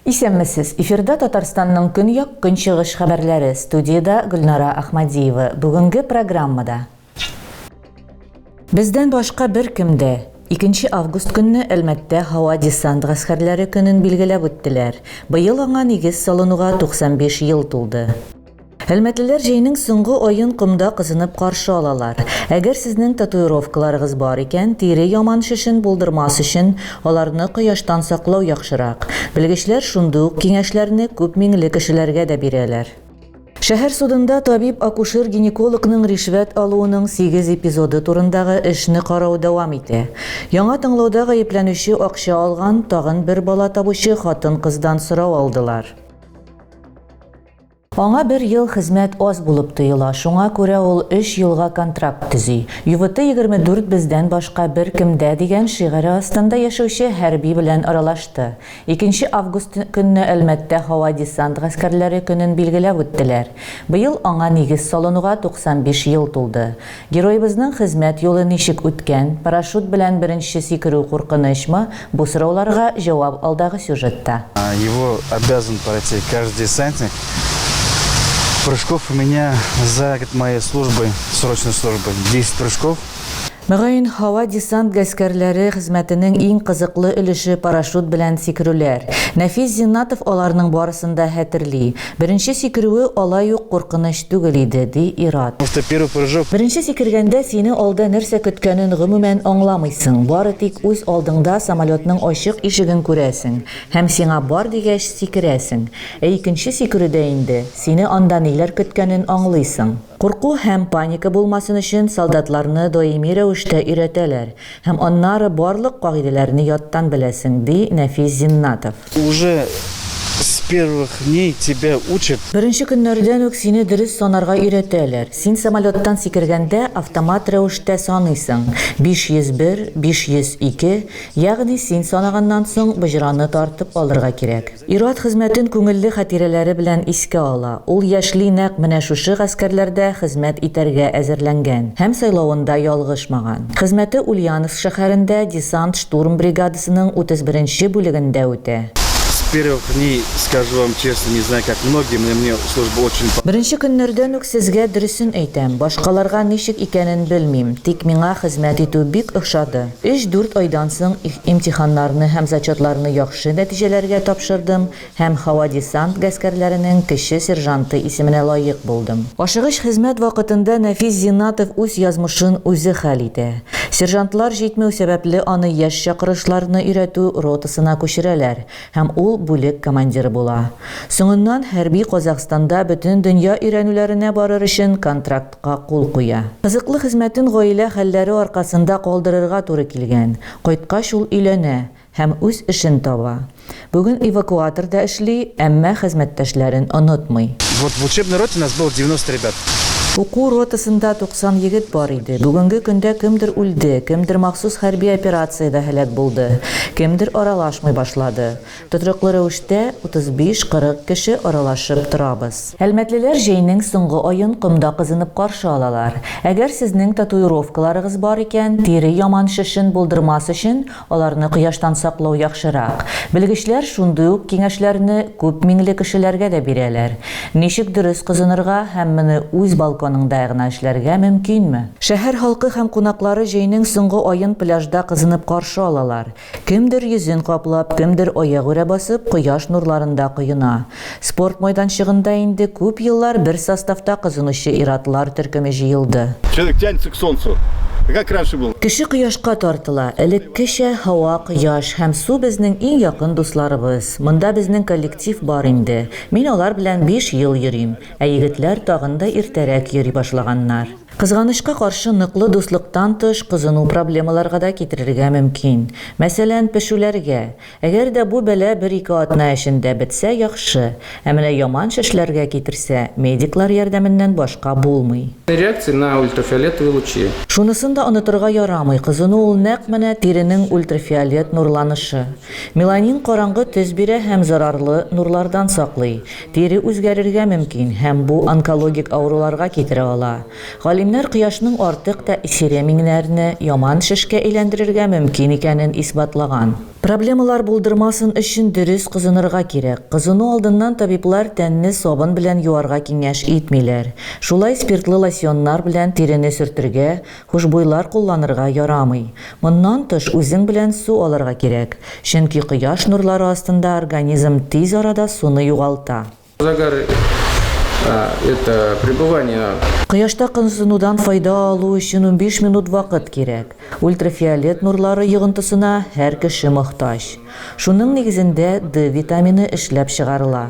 Исәнмесез! Эфирда Татарстанның көньяк-көнчыгыш хәбәрләре. Студиядә Гөлнара Ахмадиева. Бүгенге программада. Бездән башка беркем дә! Икенче август көнне Әлмәттә Һава-десант гаскәрләре көнен билгеләп үттеләр. Быел аңа нигез салынуга 95 ел тулды. Әлмәтлеләр җәйнең соңгы аен комда кызынып каршы алалар. Әгәр сезнең татуировкаларыгыз бар икән, тире яман шешен булдырмас өчен, аларны кояштан саклау яхшырак. Белгечләр шундый ук киңәшләрне күп миңле кешеләргә дә бирәләр. Шәһәр судында табиб-акушер-гинекологның ришвәт алуының сигез эпизоды турындагы эшне карау дәвам итә. Яңа тыңлауда гаепләнүче акча алган тагын бер бала табучы хатын-кыздан сорау алдылар. Аңа бер ел хезмәт аз булып тоела, шуңа күрә ул өч елга контракт төзи. Ювыты егерме дүрт бездән башка беркемдә дигән шигыре астында яшәүче хәрби белән аралашты. Икенче август көнне Әлмәттә һава-десант гаскәрләре көнен билгеләп үттеләр. Быел аңа нигез салынуга 95 ел тулды. Героебызның хезмәт юлы ничек үткән, парашют белән беренче сикерү куркынычмы, бу сорауларга җавап алдагы сюжетта. Его обязан пройти каждый десантник. Прыжков у меня за год моей службы, срочной службы, 10 прыжков. Мөгаен, һава-десант гаскәрләре хезмәтенең иң кызыклы өлеше парашют белән сикерүләр. Нәфис Зиннатов аларның барысын да хәтерли. Беренче сикерүе алай ук куркыныч түгел иде, ди ир-ат. Беренче сикергәндә сине алда нәрсә көткәнен гомумән аңламыйсың, бары тик үз алдыңда самолетның ачык ишеген күрәсең һәм сиңа бар дигәч сикерәсең. Ә икенче сикерүдә инде сине анда ниләр көткәнен аңлыйсың. Курку һәм паника булмасын өчен солдатларны даими рәвештә өйрәтәләр һәм аннары барлык кагыйдәләрне яттан беләсең, ди Нәфис Зиннатов. Уже с первых дней тебя учат. Беренче көннәрдән үк сине дөрес санарга өйрәтәләр. Син самолеттан сикергәндә автомат рәвештә саныйсың, 501, 502, ягъни син санаганнан соң боҗраны тартып алырга кирәк. Ир-ат хезмәтен күңелле хатирәләре белән искә ала. Ул яшьли нәкъ менә шушы гаскәрләрдә хезмәт итәргә әзерләнгән һәм сайлавында ялгышмаган. Хезмәте Ульяновск шәһәрендә десант-штурм бригадасының 31-нче бүлегендә үтә. С первых дней, скажу вам честно, не знаю как многие, но мне служба очень понравилась. Беренче көннәрдән үк сезгә дөресен әйтәм, башкаларга ничек икәнен белмим, тик миңа хезмәт итү бик ошады. Өч-дүрт айдан соң имтиханнарны һәм зачетларны яхшы нәтиҗәләргә тапшырдым һәм һава-десант гаскәрләренең кече сержанты исеменә лаек булдым. Ашыгыч хезмәт вакытында Нәфис Зиннатов үз язмышын үзе хәл итә. Сержантлар җитмәү сәбәпле аны яшь чакырышларны өйрәтү ротасына күчерәләр һәм ул бүлек командиры була. Соңыннан хәрби Казахстанда бөтен дөнья өйрәнүләренә барыр өчен контракт га кул куя. Кызыклы хезмәтен гаилә хәлләре аркасында калдырырга туры килгән. Кайткач ул өйләнә һәм үз эшен таба. Бүген эвакуаторда эшли, әмма хезмәттәшләрен онытмый. Вот в учебной роте нас было 90 ребят. Уку ротасында 90 егет бар иде. Бүгенге көндә кемдер үлде, кемдер махсус хәрби операциядә һәлак булды, кемдер аралашмый башлады. Тотрыклы рәвештә 35-40 кеше аралашып торабыз. Әлмәтлеләр җәйнең соңгы аен комда кызынып каршы алалар. Әгәр сезнең татуировкаларыгыз бар икән, тире яман шешен булдырмас өчен аларны кояштан саклау яхшырак. Белгечләр шундый ук киңәшләрне күп миңле кешеләргә дә бирәләр. Ничек дөрес кызынырга һәм моны үз балконыңда гына эшләргә мөмкинме? Шәһәр халкы һәм кунаклары җәйнең соңгы аен пляжда кызынып каршы алалар. Кемдер йөзен каплап, кемдер аягүрә басып кояш нурларында коена. Спорт майданчыгында инде күп еллар бер составта кызынучы ир-атлар төркеме җыелды. Человек тянется к солнцу, как раньше было. Кеше кояшка тартыла. Элеккечә һава, кояш һәм су безнең иң якын дусларыбыз. Монда безнең коллектив бар инде. Мин алар белән биш ел йөрим. Ә егетләр тагын да иртәрәк йөри башлаганнар. Кызганычка каршы, ныклы дуслыктан тыш кызыну проблемаларга да китерергә мөмкин. Мәсәлән, пешүләргә. Әгәр дә бу бәла бер-ике атна эчендә бетсә, яхшы. Ә менә яман шешләргә китерсә, медиклар ярдәменнән башка булмый. Реакция на ультрафиолетовые лучи. Шунысын да онытырга ярамый, кызыну ул нәкъ менә тиренең ультрафиолет нурланышы. Меланин караңгы төс бирә һәм зарарлы нурлардан саклый. Тире үзгәрергә мөмкин һәм бу онкологик авыруларга китерә ала. Галимнәр кояшның артык тә эфире миңнәрне яман шешкә әйләндерергә мөмкин икәнен исбатлаган. Проблемалар булдырмасын өчен дөрес кызынырга кирәк. Кызыну алдыннан табиблар тәнне сабын белән юарга киңәш итмиләр. Шулай спиртлы лосьоннар белән тирене сөртергә, Хушбуйлар кулланырга ярамый. Моннан тыш үзең белән су алырга кирәк, чөнки кояш нурлары астында организм тиз арада суны югалта. Загар это пребывание. Кояшта кызынудан файда алу өчен унбиш минут вакыт кирәк. Ультрафиолет нурлары йогынтысына һәр кеше мохтаҗ. Шуның нигезендә D витамины эшләп чыгарыла.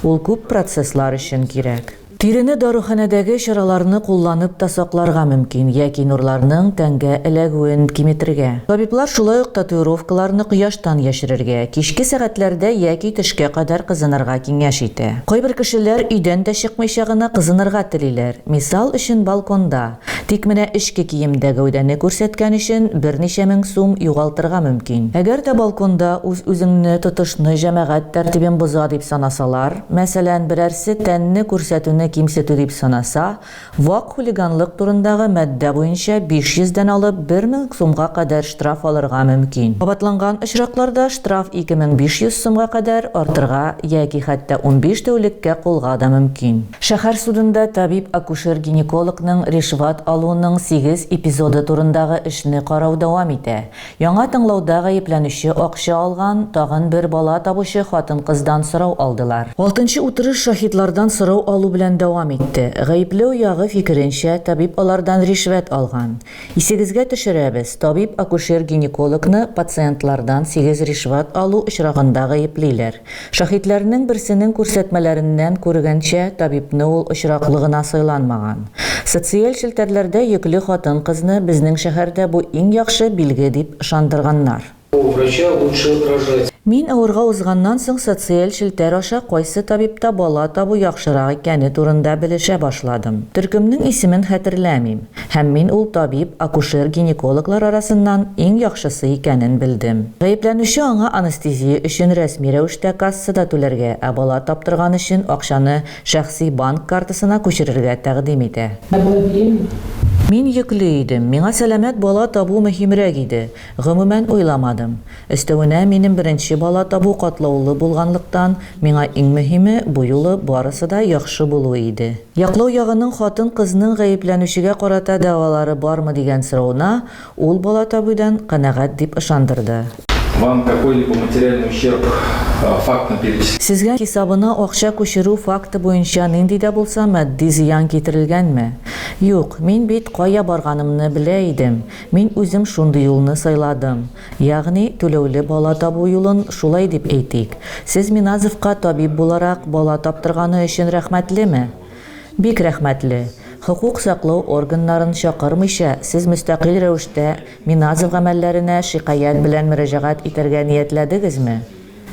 Ул күп процесслар өчен кирәк. Тирене даруханәдәге чараларны кулланып та сакларга мөмкин яки нурларның тәнгә эләгүен киметергә. Табиблар шулай ук татуировкаларны кояштан яшерергә, кичке сәгатьләрдә яки төшкә кадәр кызынырга киңәш итә. Кайбер кешеләр өйдән дә чыкмыйча гына кызынырга телиләр, мисал өчен балконда. Тик менә эчке киемдә гәүдәне күрсәткән өчен берничә мең сум югалтырга мөмкин. Әгәр дә балконда үз-үзеңне тотышны җәмәгать тәртибен боза дип санасалар, мәсәлән, берәрсе тәнне күрсәтүне кимсетү дип санаса, вак хулиганлык турындагы маддә буенча 500 дән алып 1 мең сумга кадәр штраф алырга мөмкин. Кабатланган очракларда штраф 2500 сумга кадәр артырга яки хәтта унбиш тәүлеккә кулга да мөмкин. Шәһәр судында табиб-акушер-гинекологның ришват алуның сигез эпизоды турындагы эшне карау дәвам итә. Яңа тыңлауда гаепләнүче акча алган тагын бер бала табучы хатын-кыздан сорау алдылар. Алтынчы утырыш шаһитлардан сорау алу белән дәвам итте. Гаепләү ягы фикеренчә, табиб алардан ришвәт алган. Исегезгә төшерәбез, табиб-акушер-гинекологны пациентлардан сигез ришвәт алу очрагында гаеплиләр. Шаһитләрнең берсенең күрсәтмәләреннән күргәнчә, табибны ул очраклы гына сайланмаган. Социаль челтәрләрдә йөкле хатын-кызны безнең шәһәрдә бу иң яхшы билге дип ышандырганнар. У врача лучше рожать. Мин авырга узганнан соң социаль челтәр аша кайсы табибта бала табу яхшырак икәне турында белешә башладым. Төркемнең исемен хәтерләмим. Һәм мин ул табиб, акушер-гинекологлар арасыннан иң яхшысы икәнен белдем. Гаепләнүче аңа анестезия өчен рәсми рәвештә кассада түләргә, ә бала таптырган өчен акчаны шәхси банк картасына күчерергә тәкъдим итә. Мин йөкле идем. Миңа сәламәт бала табу мөһимрәк иде. Гомумән уйламадым. Өстәвенә, минем беренче бала табу катлаулы булганлыктан, миңа иң мөһиме, бу юлы барысы да яхшы булуы иде. Яклау ягының хатын-кызның гаепләнүчегә карата дәгъвалары бармы дигән соравына, ул бала табудан канәгать дип ышандырды. Вам какой-либо материальный ущерб фактына перечислен? Сезгә хисабына акча күчерү факты буенча нинди дә булса матди зыян китерелгәнме? Юк, мин бит кая барганымны белә идем. Мин үзем шундый юлны сайладым. Ягъни, түләүле бала табу юлын, шулай дип әйтик. Сез Миназовка табиб буларак бала таптырганы өчен рәхмәтлеме? Бик рәхмәтле. Хокук саклау органнарын чакырмыйча, сез мөстәкыйль рәвештә Миназов гамәлләренә шикаять белән мөрәҗәгать итәргә ниятләдегезме?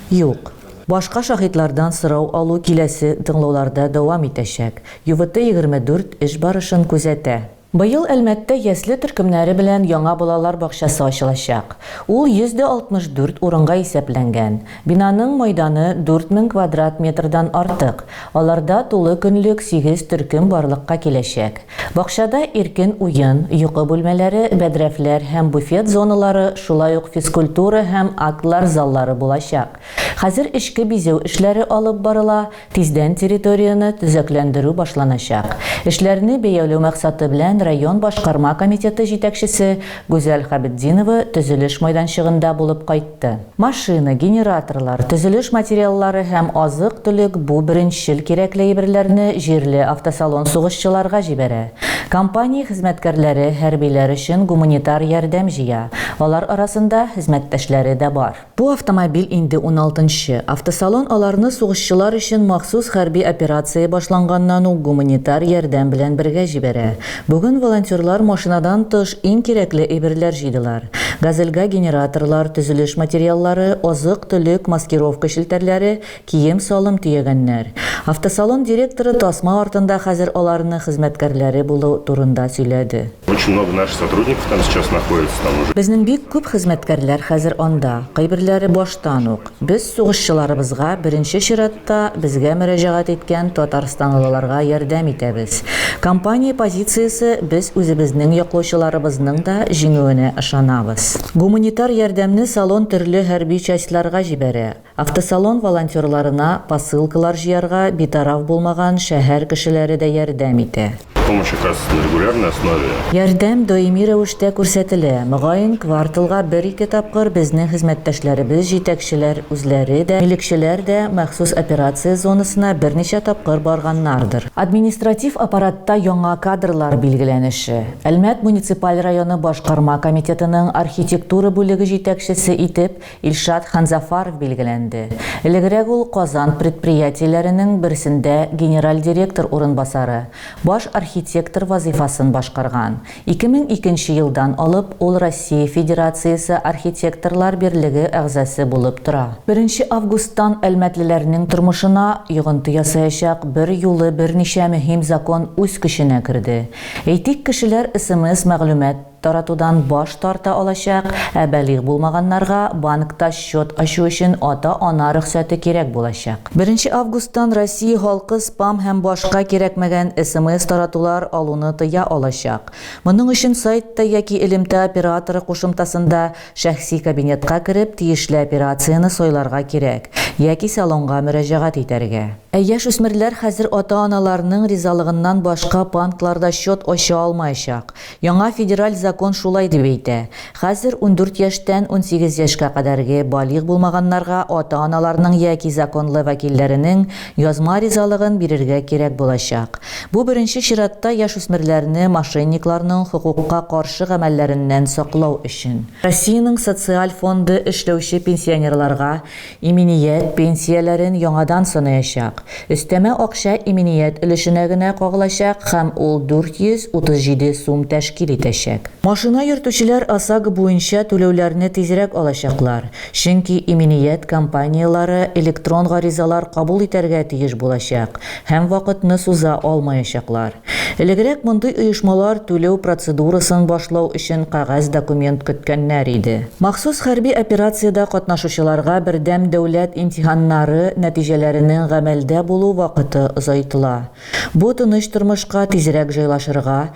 Юк. Башка шаһитлардан сорау алу киләсе тыңлауларда дәвам итәчәк. ЮВТ-24 эш барышын күзәтә. Быел Әлмәттә ясле төркемнәре белән яңа балалар бакчасы ачылачак. Ул 164 урынга исәпләнгән. Бинаның мәйданы 4000 квадрат метрдан артык. Аларда тулы көнлек сигез төркем барлыкка киләчәк. Бакчада иркен уен, йокы бүлмәләре, бәдрәфләр һәм буфет зоналары, шулай ук физкультура һәм актлар заллары булачак. Хәзер эчке бизәү эшләре алып барыла. Тиздән территорияне төзекләндерү башланачак. Эшләрне бәяләү максаты белән район башкарма комитеты җитәкчесе Гүзәл Хабетдинова төзелеш майданчыгында булып кайтты. Машина, генераторлар, төзелеш материаллары һәм азык-төлек бу беренчел кирәкле әйберләрне җирле автосалон сугышчыларга җибәрә. Компания хезмәткәрләре хәрбиләр өчен гуманитар ярдәм җыя, алар арасында хезмәттәшләре дә бар. Бу автомобиль инде уналтынчы. Автосалон аларны сугышчылар өчен махсус хәрби операция башланганнан ук гуманитар ярдәм белән бергә җибәрә. Бүген волонтерлар машинадан тыш иң кирәкле әйберләр җыйдылар. Газельгә генераторлар, төзелеш материаллары, азык-төлек, маскировка челтәрләре, Кием-салым төягәннәр. Автосалон директоры тасма артында хәзер аларны хезмәткәрләре булу турында сөйләде. Очень много наших сотрудников там сейчас находится там уже. Безнең бик күп хезмәткәрләр хәзер анда, кайберләре баштан ук. Без сугышчыларыбызга, беренче чиратта, безгә мөрәҗәгать иткән татарстанлыларга ярдәм итәбез. Компания позициясе, без үзебезнең яклаучыларыбызның да җиңүенә ышанабыз. Гуманитар ярдәмне салон төрле хәрби частьларга җибәрә. Автосалон волонтерларына посылкалар җыярга битараф булмаган шәһәр кешеләре дә ярдәм итә. Помощь оказывается на регулярной основе. Ярдәм даими рәвештә күрсәтелә. Мөгаен, кварталга бер-ике тапкыр безнең хезмәттәшләребез, җитәкчеләр үзләре дә, милекчеләр дә махсус операция зонасына берничә тапкыр барганнардыр. Административ аппаратта яңа кадрлар билгеләнеше. Әлмәт муниципаль районы башкарма комитетының архитектура бүлеге җитәкчесе итеп Илшат Ханзафаров билгеләнде. Элегрәк ул Казан предприятиеләренең берсендә генераль директор урынбасары, баш архитектор вазыйфасын башкарган. 2002 елдан алып ул Россия Федерациясе Архитекторлар берлеге әгъзасы булып тора. Беренче августтан әлмәтлеләрнең тормышына йогынты ясаячак берьюлы берничә мөһим закон үз көченә керде. Әйтик, кешеләр смс мәгълүмат, таратудан баш тарта алачак, ә балигъ булмаганнарга банкта счет ачу өчен ата-ана рөхсәте кирәк булачак. Беренче августтан Россия халкы спам һәм башка кирәкмәгән СМС-таратулар алуны тыя алачак. Моның өчен сайтта яки элемтә операторы кушымтасында шәхси кабинетка кереп, тиешле операцияне сайларга кирәк, яки салонга мөрәҗәгать итәргә. Ә яшь үсмерләр хәзер ата-аналарның ризалыгыннан башка банкларда счет ача алмаячак. Яңа федераль закон шулай дип әйтә. Хәзер ундүрт яшьтән унсигез яшькә кадәрге балигъ булмаганнарга ата-аналарның яки законлы вәкилләренең язма ризалыгын бирергә кирәк булачак. Бу беренче чиратта яшүсмерләрне мошенникларның хокукка каршы гамәлләреннән саклау өчен. Россиянең Социаль фонды эшләүче пенсионерларга Иминият пенсияләрен яңадан санаячак. Өстәмә акча иминият өлешенә генә кагылачак һәм ул 437 сум тәшкил итәчәк. Машина йөртүчеләр ОСАГО буенча түләүләрне тизрәк алачаклар, чөнки иминият компанияләре электрон гаризалар кабул итәргә тиеш булачак, Һәм вакытны суза алмаячаклар. Элегрәк мондый оешмалар түләү процедурасын башлау өчен кәгазь документ көткәннәр иде. Махсус хәрби операциядә катнашучыларга бердәм дәүләт имтиханнары нәтиҗәләренең гамәлдә булу вакыты озайтыла. Бу тыныч тормышка тизрәк җайлашырга,